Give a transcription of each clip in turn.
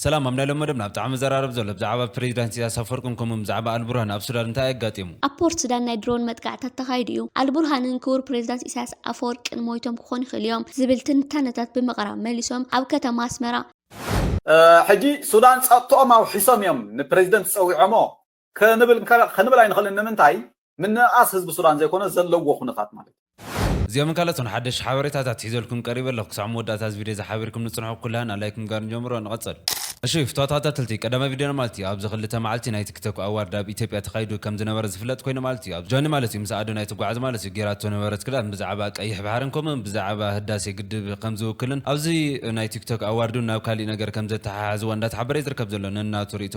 ሰላም ኣብ ናይ ሎሚ መደብና ብጣዕሚ መዘራረቢ ዘሎ ብዛዕባ ፕሬዚዳንት ኢሰያስ ኣፍወርቅን ከምኡውን ብዛዕባ ኣልቡርሃን ኣብ ሱዳን እንታይ ኣጋጢሙ? ኣብ ፖርት ሱዳን ናይ ድሮን መጥቃዕትታት ተኻይዱ እዩ፣ ኣልቡርሃንን ክቡር ፕሬዚዳንት ኢሳያስ ኣፈወርቂን ሞይቶም ክኾኑ ይኽእሉ እዮም ዝብል ትንታነታት ብምቕራብ መሊሶም ኣብ ከተማ ኣስመራ ሕጂ ሱዳን ጸጥትኦም ኣውሒሶም እዮም ንፕረዚደንት ጸዊዖሞ ክንብል ከ ክንብል ኣይንኽእልን ንምንታይ ምንእኣስ ህዝቢ ሱዳን ዘይኮነ ዘለዎ ኩነታት ማለት እዩ። እዚኦምን ካልኦትን ሓደሽቲ ሓበሬታታት ሒዘልኩም ቀሪበ ኣለኹ ክሳብ መወዳእታ እዚ ቪድዮ እዚ ሓቢርኩም ንጽንሑ ኩላህና ላይክ ምግባር ንጀምሮ ንቐጽል። እሺ ፍትዋት ተኸታተልቲ ቀዳማይ ቪድዮና ማለት እዩ ኣብዚ ክልተ መዓልቲ ናይ ቲክ ቶክ ኣዋርድ ኣብ ኢትዮጵያ ተኻይዱ ከም ዝነበረ ዝፍለጥ ኮይኑ ማለት እዩ ኣብዚ ጆኒ ማለት እዩ ምስ ኣዶናይ ትጓዓዝ ማለት እዩ ጌራቶ ነበረት ክዳን ብዛዕባ ቀይሕ ባሕርን ከምኡ ውን ብዛዕባ ህዳሴ ግድብ ከም ዝውክልን ኣብዚ ናይ ቲክ ቶክ ኣዋርድ ውን ናብ ካሊእ ነገር ከም ዘተሓሓዝዋ እንዳተሓበረ እዩ ዝርከብ ዘሎ ነናቱ ሪኢቶ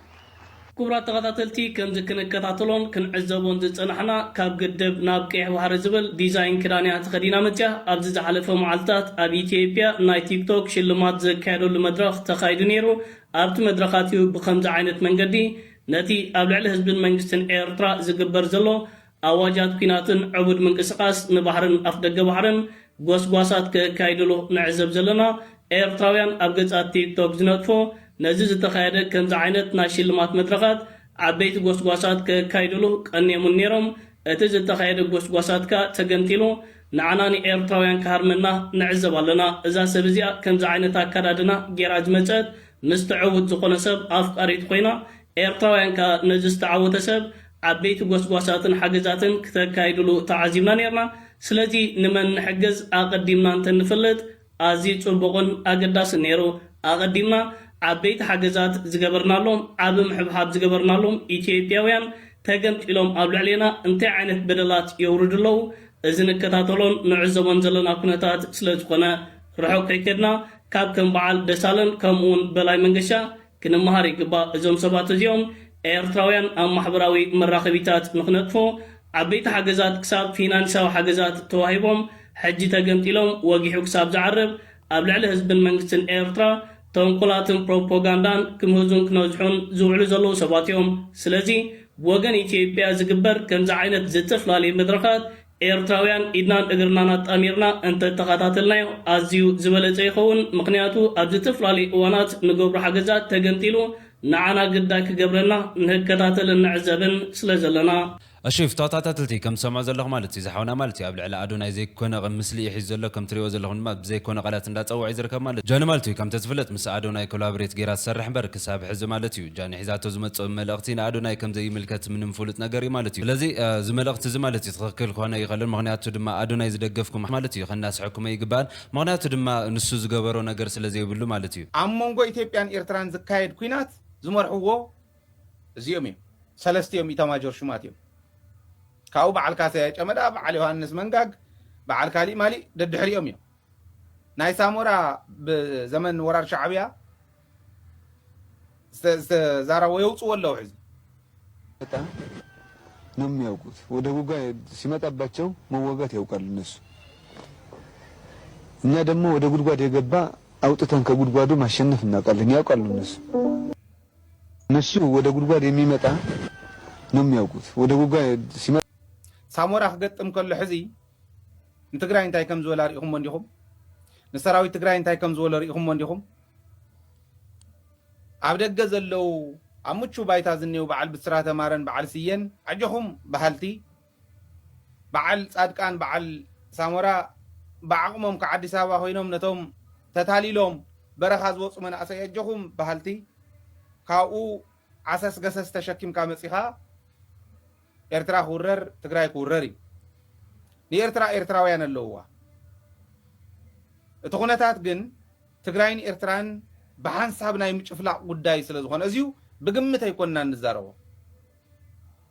ክቡራት ተኸታተልቲ ከምዚ ክንከታተሎን ክንዕዘቦን ዝጸናሕና ካብ ግድብ ናብ ቀይሕ ባሕሪ ዝብል ዲዛይን ክዳን እያ ተኸዲና መጺኣ። ኣብዚ ዝሓለፈ መዓልታት ኣብ ኢትዮጵያ ናይ ቲክቶክ ሽልማት ዝካየደሉ መድረኽ ተኻይዱ ነይሩ። ኣብቲ መድረኻት'ዩ ብኸምዚ ዓይነት መንገዲ ነቲ ኣብ ልዕሊ ህዝብን መንግስትን ኤርትራ ዝግበር ዘሎ ኣዋጃት ኲናትን ዕቡድ ምንቅስቓስ ንባሕርን ኣፍደገ ባሕርን ጎስጓሳት ከካይድሉ ንዕዘብ ዘለና ኤርትራውያን ኣብ ገጻት ቲክቶክ ዝነጥፎ ነዚ ዝተኻየደ ከምዚ ዓይነት ናይ ሽልማት መድረኻት ዓበይቲ ጎስጓሳት ከካይድሉ ቀንየሙን ኔሮም እቲ ዝተኻየደ ጎስጓሳት ከኣ ተገምጢሉ ንዓና ንኤርትራውያን ክሃርመና ንዕዘብ ኣለና እዛ ሰብ እዚኣ ከምዚ ዓይነት ኣካዳድና ጌራ ዝመጸት ምስ ትዕውት ዝኾነ ሰብ ኣፍቃሪት ኾይና ኤርትራውያን ከኣ ነዚ ዝተዓወተ ሰብ ዓበይቲ ጎስጓሳትን ሓገዛትን ክተካይድሉ ተዓዚብና ኔርና፣ ስለዚ ንመን ንሕግዝ ኣቐዲምና እንተንፍልጥ ኣዝዩ ጽቡቕን ኣገዳስን ኔሩ፣ ኣቐዲምና ዓበይቲ ሓገዛት ዝገበርናሎም ዓቢ ምሕብሓብ ዝገበርናሎም ኢትዮጵያውያን ተገምጢሎም ኣብ ልዕሌና እንታይ ዓይነት በደላት የውርዱ ኣለዉ እዚ ንከታተሎን ንዕዘቦን ዘለና ኩነታት ስለዝኾነ ርሑቕ ከይከድና ካብ ከም በዓል ደሳለን ከምኡውን በላይ መንገሻ ክንመሃር ይግባእ እዞም ሰባት እዚኦም ኤርትራውያን ኣብ ማሕበራዊ መራኸቢታት ንኽነጥፉ ዓበይቲ ሓገዛት ክሳብ ፊናንሳዊ ሓገዛት ተዋሂቦም ሕጂ ተገምጢሎም ወጊሑ ክሳብ ዝዓርብ ኣብ ልዕሊ ህዝብን መንግስትን ኤርትራ ተንኮላትን ፕሮፖጋንዳን ክምህዙን ክነዝሑን ዝውዕሉ ዘለዉ ሰባት እዮም ስለዚ ብወገን ኢትዮጵያ ዝግበር ከምዚ ዓይነት ዝጥፍላልይ መድረኻት ኤርትራውያን ኢድናን እግርናን ኣጣሚርና እንተ ተኻታተልናዮ ኣዝዩ ዝበለጸ ይኸውን ምኽንያቱ ኣብ ዝተፍላለዩ እዋናት ንገብሮ ሓገዛት ተገምጢሉ ንዓና ግዳይ ክገብረና ንህከታተልን ንዕዘብን ስለ ዘለና። ኣሺ እፍ ተኸታታትልቲ ከም ትሰምዑ ዘለኹም ማለት እዩ እዚ ሓውና ማለት እዩ ኣብ ልዕሊ ኣዶናይ ዘይኮነ ቕም ምስሊ እዩ ሒዙ ዘሎ ከም ትሪእዎ ዘለኹም ድማ ብዘይ ኮነ ቓላት እንዳ ጸወዐ እዩ ዝርከብ ማለት ጃኒ ማለት እዩ ከምቲ ዝፍለጥ ምስ ኣዶናይ ኮላብሬት ጌራ ትሰርሕ እምበር ክሳብ ሕዚ ማለት እዩ ጃኒ ሒዛቶ ዝመጽእ መልእኽቲ ንኣዶናይ ከም ዘይምልከት ምንም ፍሉጥ ነገር እዩ ማለት እዩ። ስለዚ እዚ መልእኽቲ እዚ ማለት እዩ ትኽክል ክኾን ኣይኸልን ምኽንያቱ ድማ ኣዶናይ ዝደገፍኩም ማለት እዩ ከናስሐኩም ኣይግባእን ምኽንያቱ ድማ ንሱ ዝገበሮ ነገር ስለ ዘይብሉ ማለት እዩ። ኣብ መንጎ ኢትዮጵያን ኤርትራን ዝካየድ ኲናት ዝመርሕዎ እዚኦም እዮም። ሰለስቲኦም ኢታማጆር ሹማት እዮም። ካብኡ በዓል ካሰያይ ጨመዳ፣ በዓል ዮሃንስ መንጋግ፣ በዓል ካሊእ ማሊእ ደድሕሪኦም እዮም። ናይ ሳሞራ ብዘመን ወራር ሻዕብያ ዝተዛረቦ የውፅዎ ኣለዉ ሕዚ ነው የሚያውቁት። ወደ ጉጋ ሲመጣባቸው መወጋት ያውቃሉ እነሱ። እኛ ደግሞ ወደ ጉድጓድ የገባ አውጥተን ከጉድጓዱ ማሸነፍ እናውቃለን፣ ያውቃሉ እነሱ። እነሱ ወደ ጉድጓድ የሚመጣ ነው የሚያውቁት። ወደ ጉጋ ሲመጣ ሳሞራ ክገጥም ከሎ ሕዚ ንትግራይ እንታይ ከም ዝበላ ርኢኹሞ እንዲኹም? ንሰራዊት ትግራይ እንታይ ከም ዝበሎ ርኢኹሞ እንዲኹም? ኣብ ደገ ዘለው ኣብ ምቹው ባይታ ዝኔው በዓል ብስራተ ማረን በዓል ስዬን ኣጆኹም በሃልቲ በዓል ፃድቃን በዓል ሳሞራ ብዓቕሞም ካብ ኣዲስ ኣበባ ኮይኖም ነቶም ተታሊሎም በረኻ ዝወፁ መናእሰይ ኣጆኹም በሃልቲ ካብኡ ዓሰስ ገሰስ ተሸኪምካ መፂኻ ኤርትራ ክውረር ትግራይ ክውረር እዩ ንኤርትራ ኤርትራውያን ኣለውዋ እቲ ኩነታት ግን ትግራይን ኤርትራን ብሓንሳብ ናይ ምጭፍላቕ ጉዳይ ስለ ዝኾነ እዚዩ ብግምት ኣይኮንናን ንዛረቦ።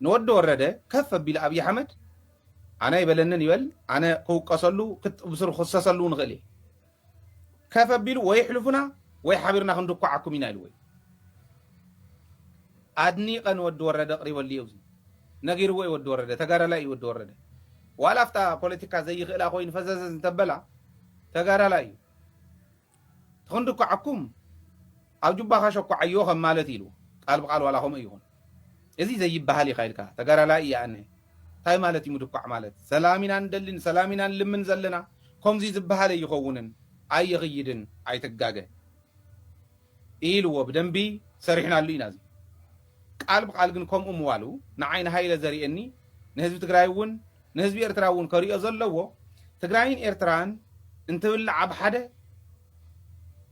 ንወዲ ወረደ ከፍ ኣቢሉ ኣብይ ኣሕመድ ኣነ ኣይበለንን ይበል ኣነ ክውቀሰሉ ብስሩ ክኽሰሰሉ እውን እኽእል እየ ከፍ ኣቢሉ ወይ ኣሕልፉና ወይ ሓቢርና ክንድኳዓኩም ኢና ኢልዎ እዩ። ኣድኒቐ ንወዲ ወረደ ኣቕሪበሉ እየ እዚ ነጊርዎ እዩ ወዲ ወረደ ተጋዳላይ እዩ ወዲ ወረደ ዋላ ኣብታ ፖለቲካ ዘይኽእላ ኮይኑ ፈዘዘዝ እንተበላ ተጋዳላይ እዩ። ተኽንድኳዓኩም ኣብ ጁባኻ ሸኳዓዮ ከም ማለት ኢሉ ቃል ብቃል ዋላ ከምኡ ይኹን እዚ ዘይበሃል ኢኻ ኢልካ ተጋዳላይ ኢየ ኣነ እንታይ ማለት እዩ ምድኳዕ ማለት ሰላም ኢና ንደሊ ንሰላም ኢና ንልምን ዘለና ከምዚ ዝበሃል ኣይኸውንን ኣይኽይድን ኣይትጋገ ኢልዎ ብደንቢ ሰሪሕናሉ ኢና እዚ ቃል ብቃል ግን ከምኡ ምባሉ ንዓይ ንሃይለ ዘሪኤኒ ንህዝቢ ትግራይ እውን ንህዝቢ ኤርትራ እውን ከሪኦ ዘለዎ ትግራይን ኤርትራን እንትብላዓ ብሓደ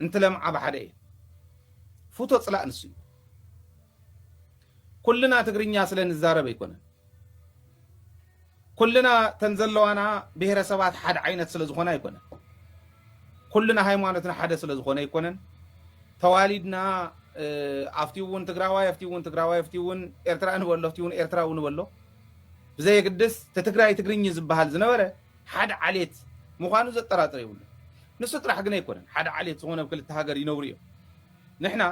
እንትለምዓ ብሓደ እየን ፉቶ ፅላእ ንሱ እዩ ኩልና ትግርኛ ስለ ንዛረብ ኣይኮነን ኩልና እተን ዘለዋና ብሄረሰባት ሓደ ዓይነት ስለ ዝኾና ኣይኮነን። ኩልና ሃይማኖትና ሓደ ስለ ዝኾነ ኣይኮነን። ተዋሊድና ኣብቲ እውን ትግራዋይ ኣብቲ እውን ትግራዋይ ኣብቲ እውን ኤርትራ ንበሎ ኣብቲ እውን ኤርትራዊ ንበሎ ብዘየግድስ እቲ ትግራይ ትግርኝ ዝበሃል ዝነበረ ሓደ ዓሌት ምዃኑ ዘጠራጥር የብሉ። ንሱ ጥራሕ ግን ኣይኮነን ሓደ ዓሌት ዝኾነ ኣብ ክልተ ሃገር ይነብሩ እዮም። ንሕና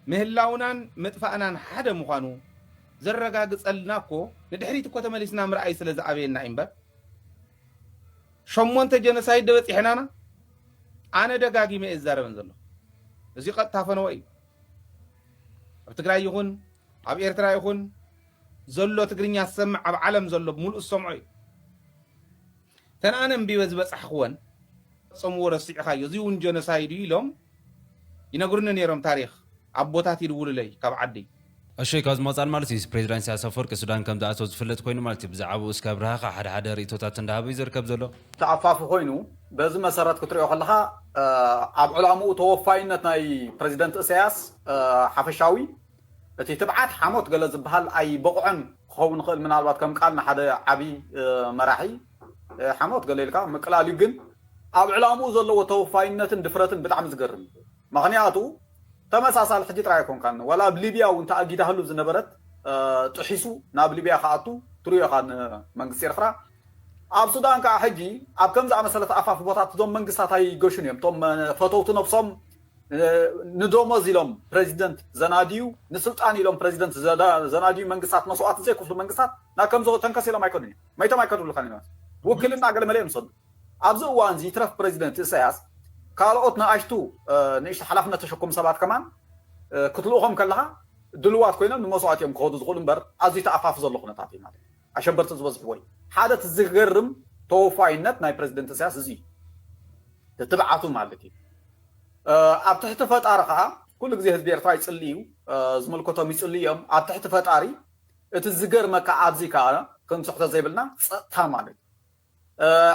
ምህላውናን ምጥፋእናን ሓደ ምዃኑ ዘረጋግጸልና እኮ ንድሕሪት እኮ ተመሊስና ምርኣይ ስለ ዝኣበየና እዩ እምበር ሸሞንተ ጀኖሳይድ ደበጺሕናና ኣነ ደጋጊመ እየ ዝዛረበን ዘለኹ እዚ ቀጥታ ፈነወ እዩ ኣብ ትግራይ ይኹን ኣብ ኤርትራ ይኹን ዘሎ ትግርኛ ዝሰምዕ ኣብ ዓለም ዘሎ ብምሉእ ዝሰምዖ እዩ እተን ኣነ ኣንቢበ ዝበጻሕክወን ፈጸምዎ ረሲዕኻዮ እዚ ውን ጆነሳይድ እዩ ኢሎም ይነግሩኒ ኔሮም ታሪኽ ኣቦታት ይድውሉለይ ካብ ዓዲ። ኣሸይ ካብ ዝመጻኒ ማለት እዩ ፕሬዚዳንት ኢሳያስ ኣፈወርቂ ሱዳን ከም ዝኣተወ ዝፍለጥ ኮይኑ ማለት እዩ ብዛዕብኡ እስከ ኣብርሃኻ ሓደ ሓደ ሪእቶታት እንዳሃበ እዩ ዝርከብ ዘሎ። ተኣፋፊ ኮይኑ በዚ መሰረት ክትሪኦ ከለኻ ኣብ ዕላምኡ ተወፋይነት ናይ ፕረዚደንት እሳያስ ሓፈሻዊ፣ እቲ ትብዓት ሓሞት ገለ ዝብሃል ኣይበቕዖን ክኸውን ይኽእል ምናልባት ከም ቃል ንሓደ ዓቢ መራሒ ሓሞት ገለ ኢልካ ምቅላል እዩ ግን ኣብ ዕላምኡ ዘለዎ ተወፋይነትን ድፍረትን ብጣዕሚ ዝገርም እዩ መኽንያቱ ተመሳሳሊ ሕጂ ጥራይ ኣይኮንካን ዋላ ኣብ ሊብያ ውን ተኣጊዳህሉ ዝነበረት ጥሒሱ ናብ ሊብያ ክኣቱ ትሪኦ ኢኻ ን መንግስቲ ኤርትራ ኣብ ሱዳን ከኣ ሕጂ ኣብ ከምዚ ኣመሰለ ተኣፋፊ ቦታት እዞም መንግስታት ኣይገሹን እዮም እቶም ፈተውቲ ነብሶም ንደሞዝ ኢሎም ፕረዚደንት ዘናድዩ፣ ንስልጣን ኢሎም ፕረዚደንት ዘናድዩ መንግስታት፣ መስዋእቲ ዘይክፍሉ መንግስታት ናብ ከምዚ ተንከስ ኢሎም ኣይኮኑን እዮም። መይቶም ኣይከድሉካን እዮም። ውክልና ገለመለ እዮም ዝሰዱ። ኣብዚ እዋንዚ ይትረፍ ፕረዚደንት እሰያስ ካልኦት ንኣሽቱ ንእሽቶ ሓላፍነት ተሸከሙ ሰባት ከማን ክትልእኾም ከለኻ ድልዋት ኮይኖም ንመስዋእቲ እዮም ክኸዱ ዝኽእሉ እምበር ኣዝዩ ተኣፋፊ ዘሎ ኩነታት እዩ ማለት እዩ። ኣሸበርቲ ዝበዝሕዎ እዩ። ሓደ እቲ ዝገርም ተወፋይነት ናይ ፕረዚደንት ኢሳያስ እዚ እዩ። ትብዓቱ ማለት እዩ። ኣብ ትሕቲ ፈጣሪ ከኣ ኩሉ ግዜ ህዝቢ ኤርትራ ይጽሊ እዩ። ዝምልከቶም ይጽልዩ እዮም። ኣብ ትሕቲ ፈጣሪ እቲ ዝገርመካ ኣብዚ ከኣ ክንስሕቶ ዘይብልና ጸጥታ ማለት እዩ።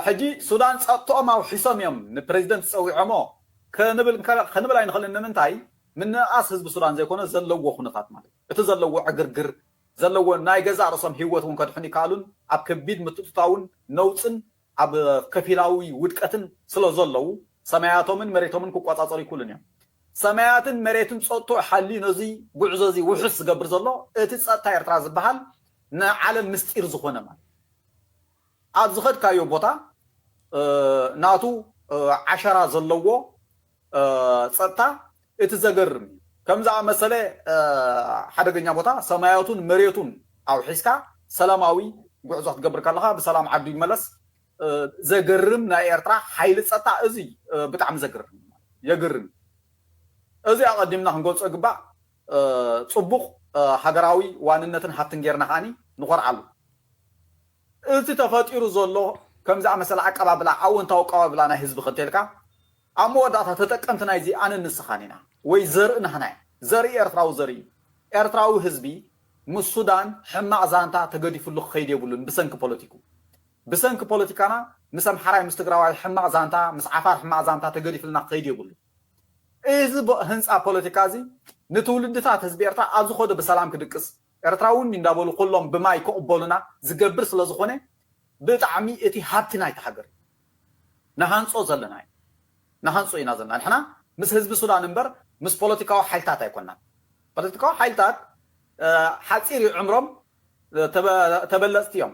ሕጂ ሱዳን ጸጥትኦም ኣውሒሶም እዮም ንፕረዚደንት ጸዊዖሞ ክንብል ክንብል ኣይንኽእልን ንምንታይ ምንእኣስ ህዝቢ ሱዳን ዘይኮነ ዘለዎ ኩነታት ማለት እዩ። እቲ ዘለዎ ዕግርግር ዘለዎን ናይ ገዛእ ርእሶም ህይወት እውን ከድሕኑ ይከኣሉን ኣብ ከቢድ ምትእትታውን ነውጽን ኣብ ከፊላዊ ውድቀትን ስለ ዘለዉ ሰማያቶምን መሬቶምን ክቆጻጸሩ ኣይክእሉን እዮም። ሰማያትን መሬትን ጸጥትኡ ሓልዩ ነዚ ጉዕዞ እዚ ውሑስ ዝገብር ዘሎ እቲ ጸጥታ ኤርትራ ዝበሃል ንዓለም ምስጢር ዝኾነ ማለት ኣብ ዝኸድካዮ ቦታ ናቱ ዓሸራ ዘለዎ ጸጥታ እቲ ዘገርም እዩ። ከም ዝኣመሰለ ሓደገኛ ቦታ ሰማያቱን መሬቱን ኣውሒስካ ሰላማዊ ጉዕዞ ክትገብር ከለኻ ብሰላም ዓዱ ይመለስ ዘገርም ናይ ኤርትራ ሓይሊ ጸጥታ እዚ ብጣዕሚ ዘገርም እዩ የግርም እዩ። እዚ ኣቐዲምና ክንገልጾ ይግባእ ጽቡቕ ሃገራዊ ዋንነትን ሃብትን ጌርና ከኣ ንኾርዓሉ። እቲ ተፈጢሩ ዘሎ ከም ዝኣመሰለ ኣቀባብላ ኣወንታዊ ኣቀባብላ ናይ ህዝቢ ከ እንተልካ ኣብ መወዳእታ ተጠቀምቲ ናይዚ ኣነን ንስኻን ኢና ወይ ዘርኢ ናህና እዩ ዘርኢ ኤርትራዊ ዘርኢ እዩ ኤርትራዊ ህዝቢ ምስ ሱዳን ሕማቅ ዛንታ ተገዲፍሉ ክኸይድ የብሉን ብሰንኪ ፖለቲኩ ብሰንኪ ፖለቲካና ምስ ኣምሓራይ ምስ ትግራዋይ ሕማቅ ዛንታ ምስ ዓፋር ሕማቅ ዛንታ ተገዲፍልና ክኸይድ የብሉን እዚ ህንጻ ፖለቲካ እዚ ንትውልድታት ህዝቢ ኤርትራ ኣብ ዝኸዶ ብሰላም ክድቅስ ኤርትራውኒ እንዳበሉ ኩሎም ብማይ ክቅበሉና ዝገብር ስለዝኾነ ብጣዕሚ እቲ ሃብቲ ናይታ ሃገር እዩ ንሃንጾ ዘለና እዩ ንሃንጾ ኢና ዘለና ንሕና ምስ ህዝቢ ሱዳን እምበር ምስ ፖለቲካዊ ሓይልታት ኣይኮናን ፖለቲካዊ ሓይልታት ሓጺር እዩ ዕምሮም ተበለጽቲ እዮም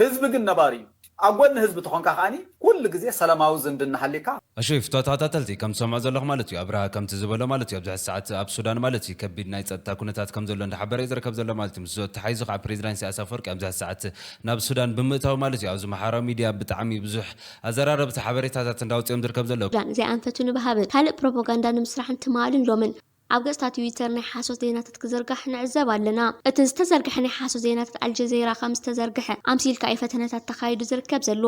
ህዝቢ ግን ነባሪ እዩ ኣብ ጎኒ ህዝቢ ተኾንካ ከኣ ኩሉ ግዜ ሰለማዊ ዝምድና ሃልይካ ኣሽይ ፍትዋ ተኸታተልቲ ከም ትሰምዑ ዘለኹም ማለት እዩ ኣብርሃ ከምቲ ዝበሎ ማለት እዩ ኣብዚ ሕዚ ሰዓት ኣብ ሱዳን ማለት እዩ ከቢድ ናይ ጸጥታ ኩነታት ከም ዘሎ እንዳሓበረ እዩ ዝርከብ ዘሎ ማለት እዩ ምስዙ ኣተሓሒዙ ከኣ ፕሬዚዳንት ኢሳያስ ኣፈወርቂ ኣብዚ ሕዚ ሰዓት ናብ ሱዳን ብምእታው ማለት እዩ ኣብዚ ማሕበራዊ ሚድያ ብጣዕሚ ብዙሕ ኣዘራረብቲ ሓበሬታታት እንዳውፅኦም ዝርከብ ዘሎ። ሱዳን እዚኣ ኣንፈቱ ንብሃብን ካልእ ፕሮፖጋንዳ ንምስራሕን ትማልን ሎምን ኣብ ገፅታ ትዊተር ናይ ሓሶት ዜናታት ክዝርጋሕ ንዕዘብ ኣለና። እቲ ዝተዘርገሐ ናይ ሓሶት ዜናታት ኣልጀዜራ ከም ዝተዘርገሐ ኣምሲልካ እዩ ፈተነታት ተኻይዱ ዝርከብ ዘሎ።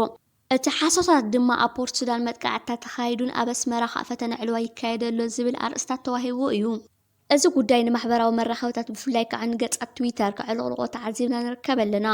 እቲ ሓሶታት ድማ ኣብ ፖርት ሱዳን መጥቃዕትታት ተኻይዱን ኣብ ኣስመራ ካእ ፈተነ ዕልዋ ይካየድ ኣሎ ዝብል ኣርእስታት ተዋሂብዎ እዩ። እዚ ጉዳይ ንማሕበራዊ መራኸብታት ብፍላይ ከኣ ንገጻት ትዊተር ከዕልቕልቖ ተዓዚብና ንርከብ ኣለና።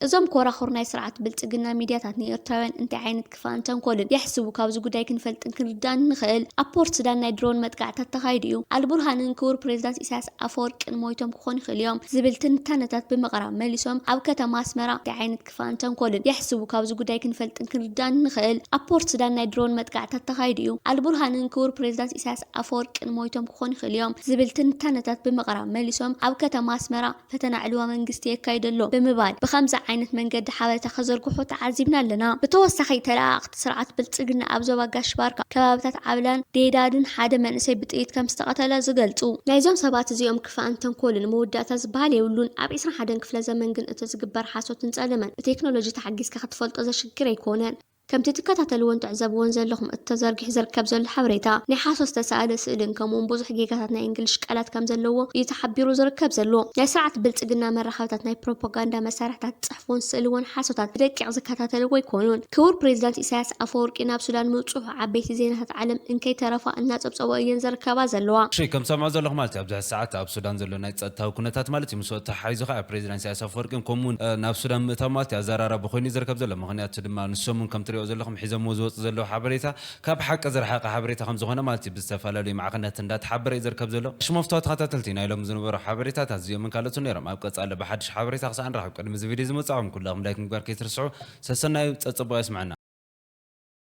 እዞም ኮራኹር ናይ ስርዓት ብልጽግና ሚድያታት ንኤርትራውያን እንታይ ዓይነት ክፋእን ተንኮልን የሕስቡ ካብዚ ጉዳይ ክንፈልጥን ክንርዳእን ንኽእል። ኣብ ፖርት ሱዳን ናይ ድሮን መጥቃዕትታት ተኻይዱ እዩ። ኣልቡርሃንን ክቡር ፕሬዝዳንት ኢሳያስ ኣፈወርቂን ሞይቶም ክኾኑ ይኽእሉ እዮም ዝብል ትንታነታት ብምቕራብ መሊሶም ኣብ ከተማ ኣስመራ እንታይ ዓይነት ክፋእን ተንኮልን የሕስቡ። ካብዚ ጉዳይ ክንፈልጥን ክንርዳእን እንኽእል፣ ኣብ ፖርት ሱዳን ናይ ድሮን መጥቃዕትታት ተኻይዱ እዩ፣ ኣልቡርሃንን ክቡር ፕሬዚዳንት ኢሳያስ ኣፈወርቅን ሞይቶም ክኾኑ ይኽእሉ እዮም ዝብል ትንታነታት ብምቕራብ መሊሶም ኣብ ከተማ ኣስመራ ፈተና ዕልዋ መንግስቲ የካይዱ ኣሎ ብምባል ብኸምዚ ዓይነት መንገዲ ሓበሬታ ከዘርግሑ ተዓዚብና ኣለና። ብተወሳኺ ተለኣኣኽቲ ስርዓት ብልፅግና ኣብ ዞባ ጋሽ ባርካ ከባብታት ዓብላን ዴዳድን ሓደ መንእሰይ ብጥይት ከምዝተቐተለ ዝገልፁ። ናይዞም ሰባት እዚኦም ክፋእን ተንኮልን መወዳእታ ዝበሃል የብሉን። ኣብ ዕስራን ሓደን ክፍለ ዘመን ግን እቲ ዝግበር ሓሶትን ፀለመን ብቴክኖሎጂ ተሓጊዝካ ክትፈልጦ ዘሽግር ኣይኮነን። ከምቲ ትከታተልዎን ትዕዘብዎን ዘለኹም እቲ ተዘርጊሑ ዝርከብ ዘሎ ሓበሬታ ናይ ሓሶት ዝተሰኣለ ስእልን ከምኡውን ብዙሕ ጌጋታት ናይ እንግሊሽ ቃላት ከምዘለዎ እዩ ተሓቢሩ ዝርከብ ዘሎ። ናይ ስርዓት ብልፅግና መራኸብታት ናይ ፕሮፓጋንዳ መሳርሕታት ፎን ስእሊ'ውን ሓሶታት ብደቂቕ ዝከታተልዎ ኣይኮኑን። ክቡር ፕሬዚዳንት ኢሳያስ ኣፈወርቂ ናብ ሱዳን ምብጽሑ ዓበይቲ ዜናታት ዓለም እንከይተረፋ እናጸብጸብኦ እየን ዝርከባ ዘለዋ። እሺ ከም ትሰምዕዎ ዘለኹም ማለት እዩ ኣብዚ ሐዚ ሰዓት ኣብ ሱዳን ዘሎ ናይ ፀጥታዊ ኩነታት ማለት እዩ ምስኡ ተሓሒዙ ኸዓ ፕሬዚዳንት ኢሳያስ ኣፈወርቂን ከምኡ ውን ናብ ሱዳን ምእታው ማለት እዩ ኣዘራራቢ ኾይኑ እዩ ዝርከብ ዘሎ ምኽንያቱ ድማ ንሶም ውን ከም ትሪእዎ ዘለኹም ሒዘምዎ ዝወፁ ዘለዉ ሓበሬታ ካብ ሓቂ ዝረሓቀ ሓበሬታ ከም ዝኾነ ማለት እዩ ብዝተፈላለዩ ማዕኸናት እንዳ ተሓበረ እዩ ዝርከብ ዘሎ። ሽሞፍቶ ተኸታተልቲ ናይ ሎሚ ዝነበሩ ሓበሬታታት እዚኦምን ካልኦትን ነይሮም። ኣብ ቀጻሊ ብሓድሽ ሓበሬታ ክሳዕ ንራኸብ ቅድሚ እዚ ቪድዮ እዚ ምብጻሕኩም ኩላኹም ላይክ ምግባር ከይትርስዑ። ሰሰናዩ ጸጽቡቕ የስመዐና።